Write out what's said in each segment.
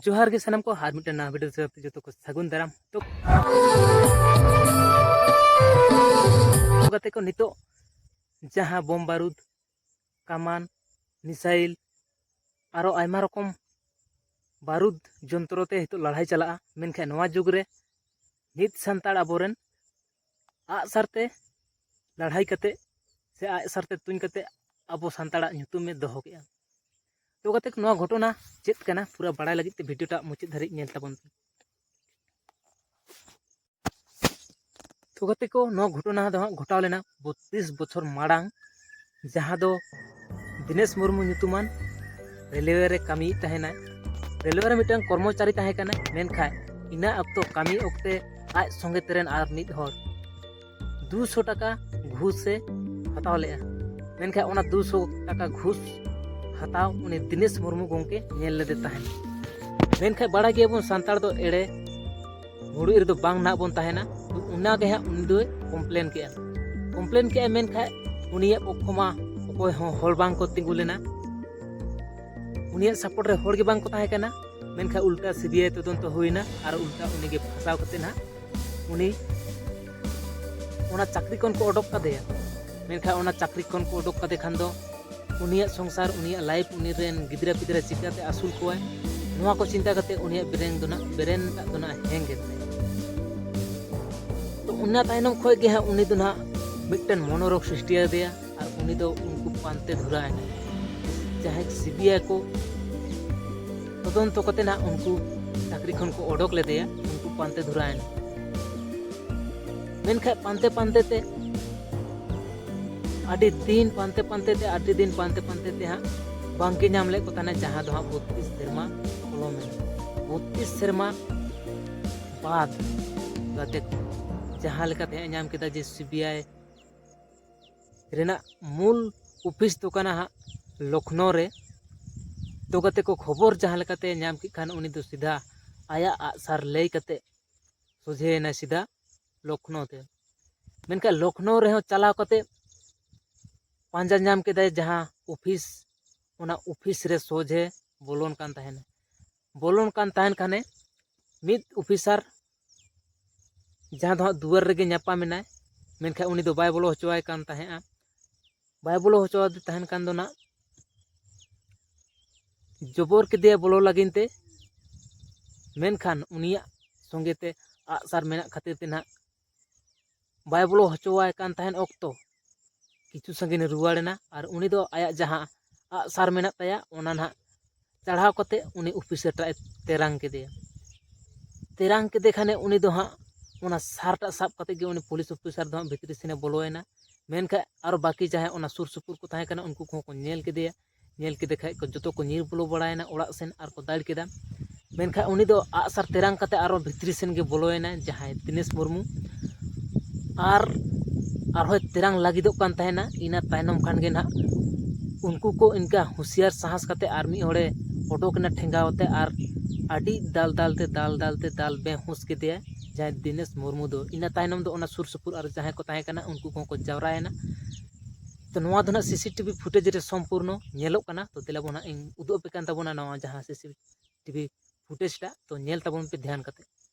ᱡᱚᱦᱟᱨ ᱜᱮ ᱥᱟᱱᱟᱢ ᱠᱚ ᱟᱨ ᱢᱤᱫᱴᱮᱱ ᱱᱟᱣᱟ ᱵᱷᱤᱰᱤᱭᱳ ᱥᱟᱶᱛᱮ ᱡᱚᱛᱚ ᱠᱚ ᱥᱟᱹᱜᱩᱱ ᱫᱟᱨᱟᱢ ᱛᱚ ᱠᱟᱛᱮ ᱠᱚ ᱱᱤᱛᱚᱜ ᱡᱟᱦᱟᱸ ᱵᱚᱢ ᱵᱟᱨᱩᱫ ᱠᱟᱢᱟᱱ ᱢᱤᱥᱟᱭᱤᱞ ᱟᱨᱚ ᱟᱭᱢᱟ ᱨᱚᱠᱚᱢ ᱵᱟᱨᱩᱫ ᱡᱚᱱᱛᱨᱚ ᱛᱮ ᱱᱤᱛᱚᱜ ᱞᱟᱲᱦᱟᱭ ᱪᱟᱞᱟᱜᱼᱟ ᱢᱮᱱᱠᱷᱟᱱ ᱱᱚᱣᱟ ᱡᱩᱜᱽ ᱨᱮ ᱢᱤᱫ ᱥᱟᱱᱛᱟᱲ ᱟᱵᱚᱨᱮᱱ ᱟᱜ ᱥᱟᱨ ᱛᱮ ᱞᱟᱹᱲᱦᱟᱹᱭ ᱠᱟᱛᱮᱫ ᱥᱮ ᱟᱜ ᱥᱟᱨ ᱛᱮ ᱛᱩᱧ ᱠᱟᱛᱮᱫ ᱟᱵᱚ ᱥᱟᱱᱛᱟᱲᱟᱜ ᱧᱩᱛᱩᱢᱮ ᱫᱚᱦᱚ ᱠᱮᱜᱼᱟ ᱫᱚᱦᱚ ᱠᱟᱛᱮᱫ ᱱᱚᱣᱟ ᱜᱷᱚᱴᱚᱱᱟ ᱪᱮᱫ ᱠᱟᱱᱟ ᱯᱩᱨᱟᱹ ᱵᱟᱲᱟᱭ ᱞᱟᱹᱜᱤᱫ ᱛᱮ ᱵᱷᱤᱰᱤᱭᱳ ᱴᱟᱜ ᱢᱩᱪᱟᱹᱫ ᱫᱷᱟᱹᱨᱤᱡ ᱧᱮᱞ ᱛᱟᱵᱚᱱ ᱯᱮ ᱛᱚ ᱜᱟᱛᱮ ᱠᱚ ᱱᱚᱣᱟ ᱜᱷᱚᱴᱚᱱᱟ ᱫᱚ ᱦᱟᱸᱜ ᱜᱷᱚᱴᱟᱣ ᱞᱮᱱᱟ ᱵᱚᱛᱛᱨᱤᱥ ᱵᱚᱪᱷᱚᱨ ᱢᱟᱲᱟᱝ ᱡᱟᱦᱟᱸ ᱫᱚ ᱫᱤᱱᱮᱥ ᱢᱩᱨᱢᱩ ᱧᱩᱛᱩᱢᱟᱱ ᱨᱮᱞᱣᱮ ᱨᱮ ᱠᱟᱹᱢᱤᱭᱮᱫ ᱛᱟᱦᱮᱱᱟᱭ ᱨᱮᱞᱣᱮ ᱨᱮ ᱢᱤᱫᱴᱟᱝ ᱠᱚᱨᱢᱚᱪᱟᱨᱤ ᱛᱟᱦᱮᱸ ᱠᱟᱱᱟᱭ ᱢᱮᱱᱠᱷᱟᱱ ᱤᱱᱟᱹ ᱚᱠᱛᱚ ᱠᱟᱹᱢᱤ ᱚᱠᱛᱮ ᱟᱡ ᱥᱚᱸᱜᱮ ᱛᱮᱨᱮᱱ ᱟᱨ ᱢᱤᱫ ᱦᱚᱲ ᱫᱩᱥᱚ ᱴᱟᱠᱟ ᱜᱷᱩᱥᱮ ᱦᱟᱛᱟᱣ ᱞᱮᱫᱼᱟ ᱢᱮᱱᱠᱷᱟᱱ ᱚᱱᱟ ᱫᱩᱥᱚ ᱴᱟᱠᱟ ᱜᱷᱩᱥ ᱦᱟᱛᱟᱣ ᱩᱱᱤ ᱫᱤᱱᱮᱥ ᱢᱩᱨᱢᱩ ᱜᱚᱢᱠᱮ ᱧᱮᱞ ᱞᱮᱫᱮ ᱛᱟᱦᱮᱸᱫ ᱢᱮᱱᱠᱷᱟᱱ ᱵᱟᱲᱟᱭ ᱜᱮᱭᱟᱵᱚᱱ ᱥᱟᱱᱛᱟᱲ ᱫᱚ ᱮᱲᱮ ᱵᱷᱩᱲᱩᱡ ᱨᱮᱫᱚ ᱵᱟᱝ ᱱᱟᱦᱟᱜ ᱵᱚᱱ ᱛᱟᱦᱮᱱᱟ ᱚᱱᱟᱜᱮ ᱦᱟᱸᱜ ᱩᱱᱤ ᱫᱚᱭ ᱠᱚᱢᱯᱞᱮᱱ ᱠᱮᱜᱼᱟ ᱠᱚᱢᱯᱞᱮᱱ ᱠᱮᱜᱼᱟ ᱢᱮᱱᱠᱷᱟᱡ ᱩᱱᱤᱭᱟᱜ ᱯᱚᱠᱠᱷᱚ ᱢᱟ ᱚᱠᱚᱭ ᱦᱚᱸ ᱦᱚᱲ ᱵᱟᱝ ᱠᱚ ᱛᱤᱸᱜᱩ ᱞᱮᱱᱟ ᱩᱱᱤᱭᱟᱜ ᱥᱟᱯᱳᱨᱴ ᱨᱮ ᱦᱚᱲ ᱜᱮ ᱵᱟᱝ ᱠᱚ ᱛᱟᱦᱮᱸ ᱠᱟᱱᱟ ᱢᱮᱱᱠᱷᱟᱱ ᱩᱞᱴᱟ ᱥᱤᱵᱤᱟᱭ ᱛᱚᱫᱚᱱᱛᱚ ᱦᱩᱭᱱᱟ ᱟᱨ ᱩᱞᱴᱟ ᱩᱱᱤᱜᱮ ᱯᱷᱟᱥᱟᱣ ᱠᱟᱛᱮ ᱱᱟᱦᱟᱜ ᱩᱱᱤ ᱚᱱᱟ ᱪᱟᱹᱠᱨᱤ ᱠᱷᱚᱱ ᱠᱚ ᱚᱰᱚᱠ ᱠᱟᱫᱮᱭᱟ ᱢᱮᱱᱠᱷᱟᱱ ᱚᱱᱟ ᱪᱟᱹᱠᱨᱤ ᱠᱷᱚᱱ ᱠᱚ ᱚᱰᱚᱠ ᱠᱟᱫᱮ ᱠᱷᱟᱱ ᱫᱚ ᱩᱱᱤᱭᱟᱜ ᱥᱚᱝᱥᱟᱨ ᱩᱱᱤᱭᱟᱜ ᱞᱟᱭᱤᱯᱷ ᱩᱱᱤ ᱨᱮᱱ ᱜᱤᱫᱽᱨᱟᱹ ᱯᱤᱫᱽᱨᱟᱹ ᱪᱤᱠᱟᱹᱛᱮ ᱟᱹᱥᱩᱞ ᱠᱚᱣᱟᱭ ᱱᱚᱣᱟ ᱠᱚ ᱪᱤᱱᱛᱟ ᱠᱟᱛᱮ ᱩᱱᱤᱭᱟᱜ ᱵᱨᱮᱱ ᱫᱚ ᱱᱟᱜ ᱵᱨᱮᱱ ᱴᱟᱜ ᱫᱚ ᱱᱟᱜ ᱦᱮᱝ ᱮᱱ ᱛᱟᱭᱟ ᱛᱚ ᱚᱱᱟ ᱛᱟᱭᱱᱚᱢ ᱠᱷᱚᱡ ᱜᱮ ᱦᱟᱸᱜ ᱩᱱᱤ ᱫᱚ ᱱᱟᱜ ᱢᱤᱫᱴᱮᱱ ᱢᱚᱱᱳᱨᱳᱜᱽ ᱥᱨᱤᱥᱴᱤ ᱟᱫᱮᱭᱟ ᱟᱨ ᱩᱱᱤ ᱫᱚ ᱩᱱᱠᱩ ᱯᱟᱱᱛᱮ ᱫᱷᱩᱨᱟᱣ ᱮᱱᱟ ᱡᱟᱦᱟᱸᱭ ᱥᱤᱵᱤᱟᱭ ᱠᱚ ᱛᱚᱫᱚᱱᱛᱚ ᱠᱟᱛᱮ ᱱᱟᱜ ᱩᱱᱠᱩ ᱪᱟᱹᱠᱨᱤ ᱠᱷᱚᱱ ᱠᱚ ᱚᱰᱚᱠ ᱞᱮᱫᱮᱭᱟ ᱩᱱᱠᱩ ᱯᱟᱱᱛᱮ ᱫᱷᱩᱨᱟᱣ ᱮᱱᱟ ᱢᱮᱱᱠᱷᱟᱡ ᱯᱟᱱᱛᱮ ᱯᱟᱱᱛᱮ ᱛᱮ ᱟᱹᱰᱤ ᱫᱤᱱ ᱯᱟᱱᱛᱮ ᱯᱟᱱᱛᱮ ᱛᱮ ᱟᱹᱰᱤ ᱫᱤᱱ ᱯᱟᱱᱛᱮ ᱯᱟᱱᱛᱮ ᱛᱮ ᱦᱟᱸᱜ ᱵᱟᱝᱠᱤ ᱧᱟᱢ ᱞᱮᱫ ᱠᱚ ᱛᱟᱦᱮᱱᱟ ᱡᱟᱦᱟᱸ ᱫᱚ ᱦᱟᱸᱜ ᱵᱚᱛᱨᱤᱥ ᱥᱮᱨᱢᱟ ᱯᱚᱞᱚᱢ ᱮᱱᱟ ᱵᱚᱛᱨᱤᱥ ᱥᱮᱨᱢᱟ ᱵᱟᱫ ᱜᱟᱛᱮ ᱠᱚ ᱡᱟᱦᱟᱸ ᱞᱮᱠᱟᱛᱮ ᱦᱟᱸᱜ ᱧᱟᱢ ᱠᱮᱫᱟ ᱡᱮ ᱥᱤ ᱵᱤ ᱟᱭ ᱨᱮᱱᱟᱜ ᱢᱩᱞ ᱚᱯᱷᱤᱥ ᱫᱚ ᱠᱟᱱᱟ ᱦᱟᱸᱜ ᱞᱚᱠᱷᱱᱳ ᱨᱮ ᱛᱚ ᱜᱟᱛᱮ ᱠᱚ ᱠᱷᱚᱵᱚᱨ ᱡᱟᱦᱟᱸ ᱞᱮᱠᱟᱛᱮ ᱧᱟᱢ ᱠᱮᱫ ᱠᱷᱟᱱ ᱩᱱᱤ ᱫᱚ ᱥᱤᱫᱷᱟ ᱟᱭᱟᱜ ᱟᱜᱼᱥᱟᱨ ᱞᱟᱹᱭ ᱠᱟᱛᱮ ᱥᱚᱡᱷᱮᱭᱮᱱᱟᱭ ᱥᱤᱫᱷᱟ ᱞᱚᱠᱷᱱᱳ ᱛᱮ ᱢᱮᱱᱠᱷᱟᱱ ᱞᱚᱠᱷᱱᱳ ᱨᱮᱦᱚᱸ ᱪᱟᱞᱟᱣ ᱠᱟᱛᱮᱫ ᱯᱟᱸᱡᱟ ᱧᱟᱢ ᱠᱮᱫᱟᱭ ᱡᱟᱦᱟᱸ ᱚᱯᱷᱤᱥ ᱚᱱᱟ ᱚᱯᱷᱤᱥ ᱨᱮ ᱥᱚᱡᱷᱮ ᱵᱚᱞᱚᱱ ᱠᱟᱱ ᱛᱟᱦᱮᱱᱟ ᱵᱚᱞᱚᱱ ᱠᱟᱱ ᱛᱟᱦᱮᱱ ᱠᱷᱟᱱᱮ ᱢᱤᱫ ᱚᱯᱷᱤᱥᱟᱨ ᱡᱟᱦᱟᱸ ᱫᱚ ᱦᱟᱸᱜ ᱫᱩᱣᱟᱹᱨ ᱨᱮᱜᱮ ᱧᱟᱯᱟᱢ ᱮᱱᱟᱭ ᱢᱮᱱᱠᱷᱟᱱ ᱩᱱᱤ ᱫᱚ ᱵᱟᱭ ᱵᱚᱞᱚ ᱦᱚᱪᱚᱣᱟᱭ ᱠᱟᱱ ᱛᱟᱦᱮᱸᱫᱼᱟ ᱵᱟᱭ ᱵᱚᱞᱚ ᱦᱚᱪᱚᱣᱟᱫᱮ ᱛᱟᱦᱮᱱ ᱠᱷᱟᱱ ᱫᱚ ᱱᱟᱜ ᱡᱚᱵᱚᱨ ᱠᱮᱫᱮᱭᱟ ᱵᱚᱞᱚ ᱞᱟᱹᱜᱤᱫ ᱛᱮ ᱢᱮᱱᱠᱷᱟᱱ ᱩᱱᱤᱭᱟᱜ ᱥᱚᱸᱜᱮ ᱛᱮ ᱟᱜ ᱥᱟᱨ ᱢᱮᱱᱟᱜ ᱠᱷᱟᱹᱛᱤᱨ ᱛᱮ ᱱᱟᱜ ᱵᱟᱭ ᱵᱚᱞᱚ ᱦᱚᱪᱚᱣᱟᱭ ᱠᱟᱱ ᱛᱟᱦᱮᱱ ᱚᱠᱛᱚ ᱠᱤᱪᱷᱩ ᱥᱟᱺᱜᱤᱧᱮ ᱨᱩᱣᱟᱹᱲᱮᱱᱟ ᱟᱨ ᱩᱱᱤ ᱫᱚ ᱟᱭᱟᱜ ᱡᱟᱦᱟᱸ ᱟᱜ ᱥᱟᱨ ᱢᱮᱱᱟᱜ ᱛᱟᱭᱟ ᱚᱱᱟ ᱱᱟᱜ ᱪᱟᱲᱦᱟᱣ ᱠᱟᱛᱮ ᱩᱱᱤ ᱚᱯᱷᱤᱥᱟᱨ ᱴᱟᱜ ᱮ ᱛᱮᱨᱟᱝ ᱠᱮᱫᱮᱭᱟ ᱛᱮᱨᱟᱝ ᱠᱮᱫᱮ ᱠᱷᱟᱱᱮ ᱩᱱᱤ ᱫᱚ ᱦᱟᱸᱜ ᱚᱱᱟ ᱥᱟᱨ ᱴᱟᱜ ᱥᱟᱵ ᱠᱟᱛᱮ ᱜᱮ ᱩᱱᱤ ᱯᱩᱞᱤᱥ ᱚᱯᱷᱤᱥᱟᱨ ᱫᱚ ᱦᱟᱸᱜ ᱵᱷᱤᱛᱨᱤ ᱥᱮᱱᱮ ᱵᱚᱞᱚᱭᱮᱱᱟ ᱢᱮᱱᱠᱷᱟᱱ ᱟᱨᱚ ᱵᱟᱹᱠᱤ ᱡᱟᱦᱟᱸᱭ ᱚᱱᱟ ᱥᱩᱨ ᱥᱩᱯᱩᱨ ᱠᱚ ᱛᱟᱦᱮᱸ ᱠᱟᱱᱟ ᱩᱱᱠᱩ ᱠᱚᱦᱚᱸ ᱠᱚ ᱧᱮᱞ ᱠᱮᱫᱮᱭᱟ ᱧᱮᱞ ᱠᱮᱫᱮ ᱠᱷᱟᱱ ᱠᱚ ᱡᱚᱛᱚ ᱠᱚ ᱧᱤᱨ ᱵᱚᱞᱚ ᱵᱟᱲᱟᱭᱮᱱᱟ ᱚᱲᱟᱜ ᱥᱮᱱ ᱟᱨ ᱠᱚ ᱫᱟᱹᱲ ᱠᱮᱫᱟ ᱢᱮᱱᱠᱷᱟᱱ ᱩᱱᱤ ᱫᱚ ᱟᱜᱼᱥᱟᱨ ᱛᱮᱨᱟᱝ ᱠᱟᱛᱮ ᱟᱨᱚ ᱵᱷᱤᱛᱨᱤ ᱥᱮᱱ ᱜᱮ ᱵᱚᱞᱚᱭᱮᱱᱟᱭ ᱡᱟᱦᱟᱸᱭ ᱫᱤᱱᱮᱥ ᱢᱩᱨᱢᱩ ᱟᱨ ᱟᱨᱦᱚᱸᱭ ᱛᱮᱨᱟᱝ ᱞᱟᱹᱜᱤᱫᱚᱜ ᱠᱟᱱ ᱛᱟᱦᱮᱱᱟ ᱤᱱᱟᱹ ᱛᱟᱭᱱᱚᱢ ᱠᱷᱟᱱ ᱜᱮ ᱱᱟᱦᱟᱜ ᱩᱱᱠᱩ ᱠᱚ ᱤᱱᱠᱟᱹ ᱦᱩᱥᱭᱟᱹᱨ ᱥᱟᱦᱟᱥ ᱠᱟᱛᱮᱫ ᱟᱨ ᱢᱤᱫ ᱦᱚᱲᱮ ᱩᱰᱩᱠ ᱮᱱᱟ ᱴᱷᱮᱸᱜᱟ ᱟᱛᱮᱫ ᱟᱨ ᱟᱹᱰᱤ ᱫᱟᱞ ᱫᱟᱞ ᱛᱮ ᱫᱟᱞ ᱫᱟᱞ ᱛᱮ ᱫᱟᱞ ᱵᱮᱦᱩᱸᱥ ᱠᱮᱫᱮᱭᱟᱭ ᱡᱟᱦᱟᱸᱭ ᱫᱤᱱᱮᱥ ᱢᱩᱨᱢᱩ ᱫᱚ ᱤᱱᱟᱹ ᱛᱟᱭᱱᱚᱢ ᱫᱚ ᱚᱱᱟ ᱥᱩᱨ ᱥᱩᱯᱩᱨ ᱟᱨ ᱡᱟᱦᱟᱸᱭ ᱠᱚ ᱛᱟᱦᱮᱸ ᱠᱟᱱᱟ ᱩᱱᱠᱩ ᱠᱚᱦᱚᱸ ᱠᱚ ᱡᱟᱣᱨᱟᱭᱮᱱᱟ ᱛᱚ ᱱᱚᱣᱟ ᱫᱚ ᱱᱟᱦᱟᱜ ᱥᱤᱥᱤ ᱴᱤᱵᱷᱤ ᱯᱷᱩᱴᱮᱡᱽ ᱨᱮ ᱥᱚᱢᱯᱩᱨᱱᱚ ᱧᱮᱞᱚᱜ ᱠᱟᱱᱟ ᱛᱚ ᱫᱮᱞᱟ ᱵᱚᱱ ᱱᱟᱦᱟᱜ ᱤᱧ ᱩᱫᱩᱜ ᱟᱯᱮ ᱠᱟᱱ ᱛᱟᱵᱚᱱᱟ ᱱᱚᱣᱟ ᱡᱟᱦᱟᱸ ᱥᱤᱥᱤ ᱴᱤᱵᱷᱤ ᱯᱷᱩᱴᱮᱡᱽ ᱴᱟᱜ ᱛᱚ ᱧᱮᱞ ᱛᱟᱵᱚᱱ ᱯᱮ ᱫᱷᱮᱭᱟᱱ ᱠᱟᱛᱮᱫ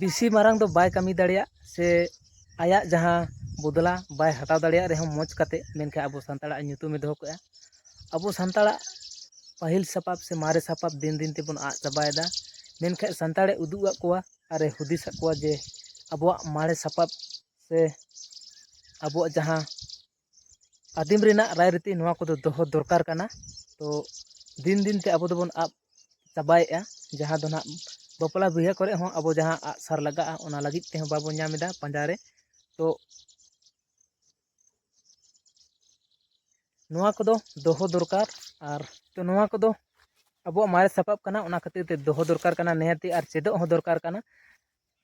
ᱵᱮᱥᱤ ᱢᱟᱨᱟᱝ ᱫᱚ ᱵᱟᱭ ᱠᱟᱹᱢᱤ ᱫᱟᱲᱮᱭᱟᱜ ᱥᱮ ᱟᱭᱟᱜ ᱡᱟᱦᱟᱸ ᱵᱚᱫᱽᱞᱟ ᱵᱟᱭ ᱦᱟᱛᱟᱣ ᱫᱟᱲᱮᱭᱟᱜ ᱨᱮᱦᱚᱸ ᱢᱚᱡᱽ ᱠᱟᱛᱮᱫ ᱢᱮᱱᱠᱷᱟᱱ ᱟᱵᱚ ᱥᱟᱱᱛᱟᱲᱟᱜ ᱧᱩᱛᱩᱢᱮ ᱫᱚᱦᱚ ᱠᱟᱜᱼᱟ ᱟᱵᱚ ᱥᱟᱱᱛᱟᱲᱟᱜ ᱯᱟᱹᱦᱤᱞ ᱥᱟᱯᱟᱵ ᱥᱮ ᱢᱟᱨᱮ ᱥᱟᱯᱟᱵ ᱫᱤᱱ ᱫᱤᱱ ᱛᱮᱵᱚᱱ ᱟᱫ ᱪᱟᱵᱟᱭᱮᱫᱟ ᱢᱮᱱᱠᱷᱟᱱ ᱥᱟᱱᱛᱟᱲᱮ ᱩᱫᱩᱜ ᱟᱫ ᱠᱚᱣᱟ ᱟᱨᱮ ᱦᱩᱫᱤᱥ ᱟᱫ ᱠᱚᱣᱟ ᱡᱮ ᱟᱵᱚᱣᱟᱜ ᱢᱟᱨᱮ ᱥᱟᱯᱟᱵ ᱥᱮ ᱟᱵᱚᱣᱟᱜ ᱡᱟᱦᱟᱸ ᱟᱹᱫᱤᱢ ᱨᱮᱱᱟᱜ ᱨᱟᱭ ᱨᱤᱛᱤ ᱱᱚᱣᱟ ᱠᱚᱫᱚ ᱫᱚᱦᱚ ᱫᱚᱨᱠᱟᱨ ᱠᱟᱱᱟ ᱛᱚ ᱫᱤᱱ ᱫᱤᱱ ᱛᱮ ᱟᱵᱚ ᱫᱚᱵᱚᱱ ᱟᱫ ᱪᱟᱵᱟᱭᱮᱫᱼᱟ ᱡᱟᱦᱟᱸ ᱫᱚ ᱦᱟᱸᱜ ᱵᱟᱯᱞᱟ ᱵᱤᱦᱟᱹ ᱠᱚᱨᱮ ᱦᱚᱸ ᱟᱵᱚ ᱡᱟᱦᱟᱸ ᱟᱜ ᱥᱟᱨ ᱞᱟᱜᱟᱜᱼᱟ ᱚᱱᱟ ᱞᱟᱹᱜᱤᱫ ᱛᱮᱦᱚᱸ ᱵᱟᱵᱚᱱ ᱧᱟᱢ ᱮᱫᱟ ᱯᱟᱸᱡᱟ ᱨᱮ ᱛᱚ ᱱᱚᱣᱟ ᱠᱚᱫᱚ ᱫᱚᱦᱚ ᱫᱚᱨᱠᱟᱨ ᱟᱨ ᱛᱚ ᱱᱚᱣᱟ ᱠᱚᱫᱚ ᱟᱵᱚᱣᱟᱜ ᱢᱟᱨᱮ ᱥᱟᱯᱟᱵ ᱠᱟᱱᱟ ᱚᱱᱟ ᱠᱷᱟᱹᱛᱤᱨ ᱛᱮ ᱫᱚᱦᱚ ᱫᱚᱨᱠᱟᱨ ᱠᱟᱱᱟ ᱱᱤᱦᱟᱹᱛ ᱜᱮ ᱟᱨ ᱪᱮᱫᱚᱜ ᱦᱚᱸ ᱫᱚᱨᱠᱟᱨ ᱠᱟᱱᱟ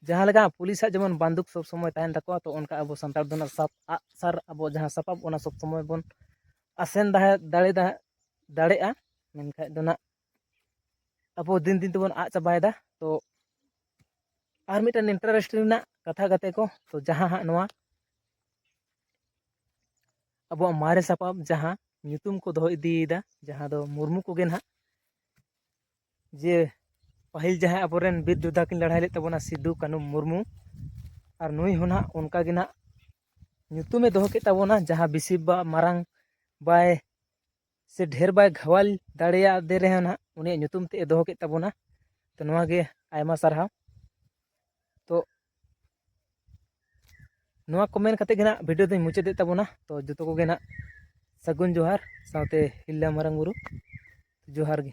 ᱡᱟᱦᱟᱸ ᱞᱮᱠᱟ ᱯᱩᱞᱤᱥᱟᱜ ᱡᱮᱢᱚᱱ ᱵᱟᱱᱫᱩᱠ ᱥᱚᱵᱽ ᱥᱚᱢᱚᱭ ᱛᱟᱦᱮᱱ ᱛᱟᱠᱚᱣᱟ ᱛᱚ ᱚᱱᱠᱟ ᱟᱵᱚ ᱥᱟᱱᱛᱟᱲ ᱫᱚ ᱱᱟᱜ ᱥᱟᱵ ᱟᱜ ᱥᱟᱨ ᱟᱵᱚ ᱡᱟᱦᱟᱸ ᱥᱟᱯᱟᱵ ᱚᱱᱟ ᱥᱚᱵᱽ ᱥᱚᱢᱚᱭ ᱵᱚᱱ ᱟᱥᱮᱱ ᱫᱟᱲᱮ ᱫᱟᱲᱮᱭᱟᱜᱼᱟ ᱢᱮᱱᱠᱷᱟᱡ ᱫᱚ ᱱᱟᱜ ᱟᱵᱚ ᱫᱤᱱ ᱫᱤᱱ ᱛᱮᱵᱚᱱ ᱟᱫ ᱪᱟᱵᱟᱭᱮᱫᱟ ᱛᱚ ᱟᱨ ᱢᱤᱫᱴᱮᱱ ᱤᱱᱴᱟᱨᱮᱥᱴ ᱨᱮᱱᱟᱜ ᱠᱟᱛᱷᱟ ᱠᱟᱛᱮ ᱠᱚ ᱛᱚ ᱡᱟᱦᱟᱸ ᱦᱟᱸᱜ ᱱᱚᱣᱟ ᱟᱵᱚᱣᱟᱜ ᱢᱟᱨᱮ ᱥᱟᱯᱟᱵ ᱡᱟᱦᱟᱸ ᱧᱩᱛᱩᱢ ᱠᱚ ᱫᱚᱦᱚ ᱤᱫᱤᱭᱮᱫᱟ ᱡᱟᱦᱟᱸ ᱫᱚ ᱢᱩᱨᱢᱩ ᱠᱚᱜᱮ ᱱᱟᱜ ᱡᱮ ᱯᱟᱹᱦᱤᱞ ᱡᱟᱦᱟᱸᱭ ᱟᱵᱚᱨᱮᱱ ᱵᱤᱨ ᱡᱳᱫᱽᱫᱷᱟ ᱠᱤᱱ ᱞᱟᱹᱲᱦᱟᱹᱭ ᱞᱮᱫ ᱛᱟᱵᱚᱱᱟ ᱥᱤᱫᱩ ᱠᱟᱹᱱᱩ ᱢᱩᱨᱢᱩ ᱟᱨ ᱱᱩᱭ ᱦᱚᱸ ᱱᱟᱦᱟᱜ ᱚᱱᱠᱟ ᱜᱮ ᱱᱟᱦᱟᱜ ᱧᱩᱛᱩᱢᱮ ᱫᱚᱦᱚ ᱠᱮᱫ ᱛᱟᱵᱚᱱᱟ ᱡᱟᱦᱟᱸ ᱵᱮᱥᱤ ᱵᱟ ᱢᱟᱨᱟᱝ ᱵᱟᱭ ᱥᱮ ᱰᱷᱮᱨ ᱵᱟᱭ ᱜᱷᱟᱣᱟᱞ ᱫᱟᱲᱮᱭᱟᱫᱮ ᱨᱮᱦᱚᱸ ᱱᱟᱦᱟᱜ ᱩᱱᱤᱭᱟᱜ ᱧᱩᱛᱩᱢ ᱛᱮᱫ ᱮ ᱫᱚᱦᱚ ᱠᱮᱫ ᱛᱟᱵᱚᱱᱟ ᱛᱚ ᱱᱚᱣᱟᱜᱮ ᱟᱭᱢᱟ ᱥᱟᱨᱦᱟᱣ ᱛᱚ ᱱᱚᱣᱟ ᱠᱚ ᱢᱮᱱ ᱠᱟᱛᱮᱫ ᱜᱮ ᱱᱟᱦᱟᱜ ᱵᱷᱤᱰᱤᱭᱳ ᱫᱚᱧ ᱢᱩᱪᱟᱹᱫᱮᱫ ᱛᱟᱵᱚᱱᱟ ᱛᱚ ᱡᱚᱛᱚ ᱠᱚᱜᱮ ᱱᱟᱦᱟᱜ ᱥᱟᱹᱜᱩᱱ ᱡᱚᱦᱟᱨ ᱥᱟᱶᱛᱮ ᱦᱤᱞᱞᱟ ᱢᱟᱨᱟᱝ ᱵᱩᱨᱩ ᱡᱚᱦᱟᱨ ᱜᱮ